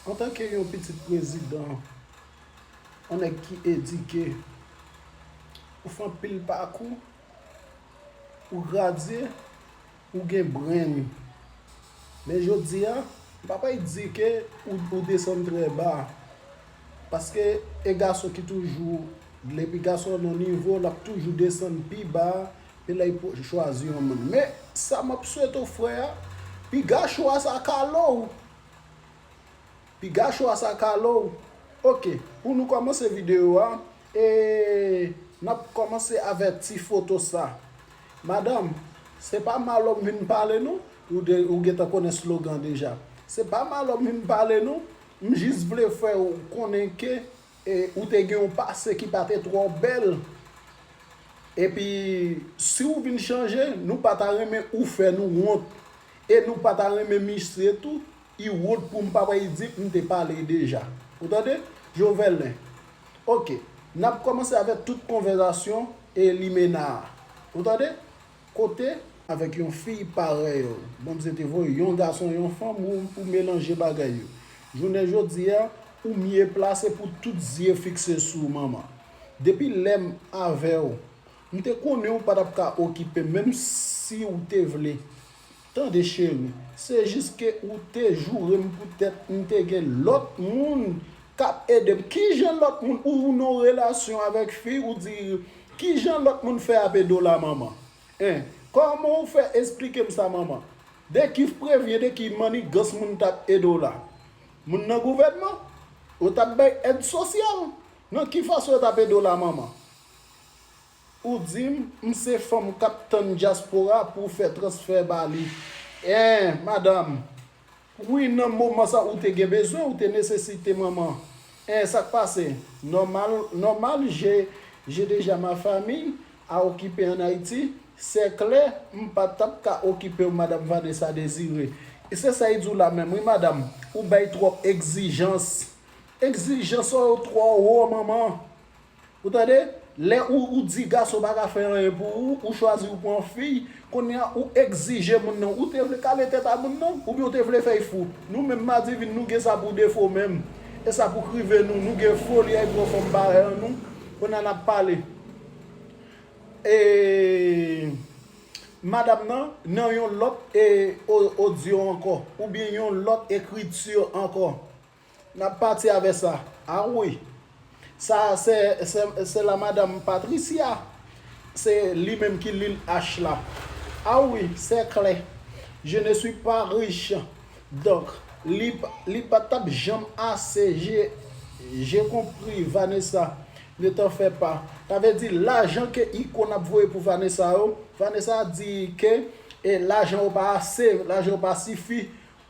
Antanke yon pitit prezidan, yon nèg ki edike, ou fè anpil pakou, ou gradye, ou gen brenn. Men jodi a, m pa pè di ke ou desann trè ba. Paske e gason ki toujou, depi gason nan nivo, l ap toujou desann pi ba ke lè li chwazi yon moun. Men sa m ap swete w frè a, piga chwa sa kale w Piga chwa sa kale w. Ok pou nou komanse video a e nap komanse avè ti foto sa Madame se pa malo m vin pale non ou gentan konnen slogan deja se pa malo m vin pale non m jis vle fè w konnen ke ou te gen yon pase ki pa te tro bèl epi si w vin chanje nou pa ta renmen ou fè nou wont E nou pa ta renmen mistre tou? I wont poum pa wè idip m te pale deja. Ou tande? Jovelin, Ok, nap kòmanse avèk tout konvèzasyon e limena a. Ou tande? Kote? Avèk yon fiy parèy ou. Bondye te voye yon gason e yon fanm ou ou melanje bagay yo. Jounen jodi a, ou mye plase pou tout zye fikse sou ou manman. Depi lèm avèw, M te konnen ou pa t ap ka okipe m menm si ou te vle. Tande cheri, se jis ke ou te joure m poutèt m te gen lòt moun k ap ede m. Kijan lòt moun? Ou nan yon relasyon avèk fi ou di kijan lòt moun fè ap ede w la manman? Hein? Kòman ou fè esplike m sa manman? De ki vprevyen, de ki mannigans moun t ap ede w la? Moun nan gouvènman? Yo t ap bay èd sosyal? Nan ki fason yo t ap ede w la manman? Ou dim m se fanm kap tann dyaspora pou fè transfè ba li eeh madam wi nan moman sa ou te gen bezwen ou te nesesite manman eeh sak pase nòmal nòmal je je deja ma famille a okipe an Ayiti sè klè m pa tap ka okipew madam Vanessa Désiré e se sa yi di w la menm wi madam ou bay twòp egzijans egzijans w yo twò wo manman. Ou tande, lè ou di gason pa ka fè anyen pou ou, ou chwazi ou pran fiy, kounye a ou egzije moun nan, ou te vle kale tèt a moun nan, oubyen ou te vle fè y fou? Nou menm madivin nou gen sa pou defo menm, e sa pou k rive nou, nou gen foli ay pran fanm parèy an nou, kounye a n ap pale e madam nan nan yon lòt odyo ankò, oubyen yon lòt ekriti ankò. Nap pati avè sa a wi. Sa a se se la madame Patricia se li menm ki lil H la a wi se klè je ne suis pas riche donc li li pa tap janm ase je je konpri Vanessa ne t'en fais pas sa vle di lajan ke icône ap voye pou Vanessa yo Vanessa di ke lajan yo pa ase lajan yo pa sifi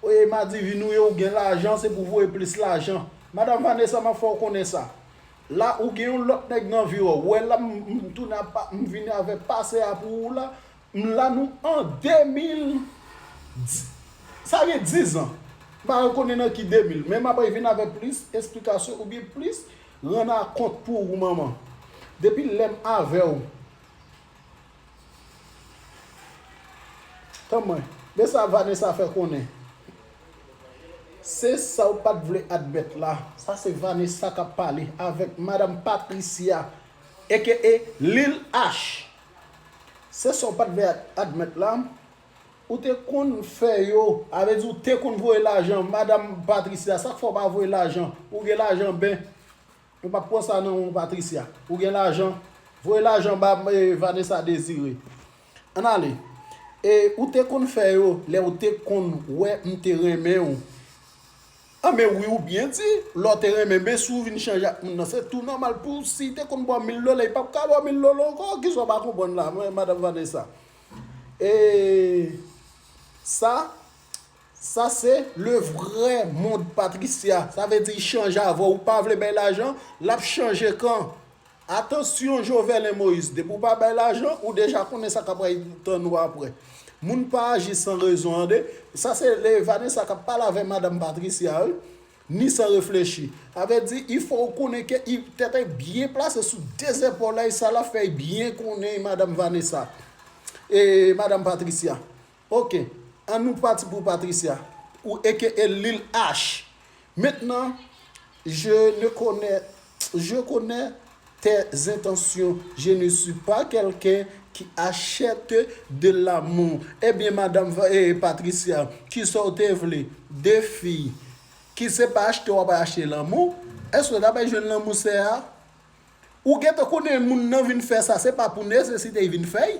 Oyy madivi ou ye ou gen lajan se pou voye plis lajan madam Vanessa map fè w konnen sa la ou gen yon lòt nèg nan viw ou wè la m tounen ap pa m vini avè pase a pou ou la m la nou an 2000 di sa gen 10 ans m pa re konnen nan ki 2000 men m ap vin avè plis esplikasyon ou byen plis rann a kont pou ou manman depi lèm avè w Tan mwen. Men sa Vanessa fè konnen. Se sa w pat vle admèt la. Sa se Vanessa kap pale avèk madam Patricia aka Lil Ash. Se sa w pat vle admèt la. Ou te konn fè yo. A vle di ou te konn voye lajan madam Patricia. Sak fè w pa voye lajan. Ou gen lajan ben. Mwen pap pwan sa nan ou Patricia. Ou gen lajan? Voye lajan ba Vanessa Desire. Ann ale. E ou te konn fè yo lè ou te konn wè m te renmen ou. An men wi ou byen di. Lè w te renmen men si w vin chanje ak moun nan se tou nòmal pou w si te konn ba w mil dola li pap ka ba w mil dola ankò. Ki sa w pa konprann la Madame Vanessa. E sa Sa se le vrè mond Patricia sa vle di chanj avè w ou pa vle bay lajan lap chanje kan atansyon Jovelin Moïse depi w pa bay lajan ou deja konnen sa kap pral tann ou aprè moun pa aji san rezon ande sa se le Vanessa kap pale avè madam Patricia wi ni san reflechi sa vle di il fò ou konnen ke tèt e byen plase sou de zepòl e sa lap fè byen konnen madam Vanessa e madam Patricia. Ok an nou pati pou Patricia ou aka Lil Ash maintenant je ne connais je connais tes intentions je ne suis pas quelqu'un qui achète de l'amour ebyen madam Patricia kisa ou te vle de fi ki se pa achte wap achte lanmou eske ou ta bay jwenn lanmou sè a ou gentan konnen moun nan vin fè sa se pa pou nesesite li vin fè l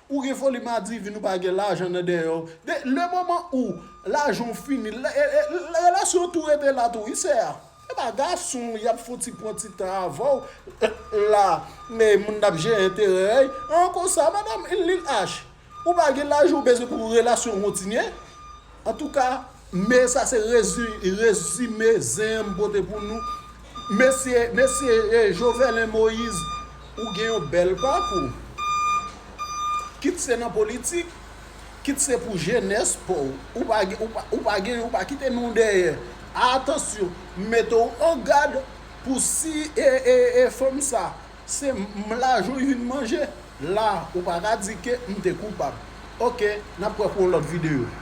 Ou gen foli madivin ou pa gen lajan nan dèyè w de le moman ou lajan w fini relasyon an tou rete la tou wi sè a se pa gason y ap fouti pran ti tan avè w la moun nan ap jere enterè an konsa madam lil ash ou pa gen lajan ou bezwen pou relasyon w kontinye Antouka me sa se rezime zen m pote pou nou mesye mesye Joverlin Moise ou gen yon bèl pakou kit se nan politik kit se pou jenès paw ou pa gen ou pa gen ou pa kite non dèyè atansyon m mete w an gad pou si ee fanm sa se m lajan w vin manje la ou paka di ke m te koupab ok nap wè pou yon lòt videyo.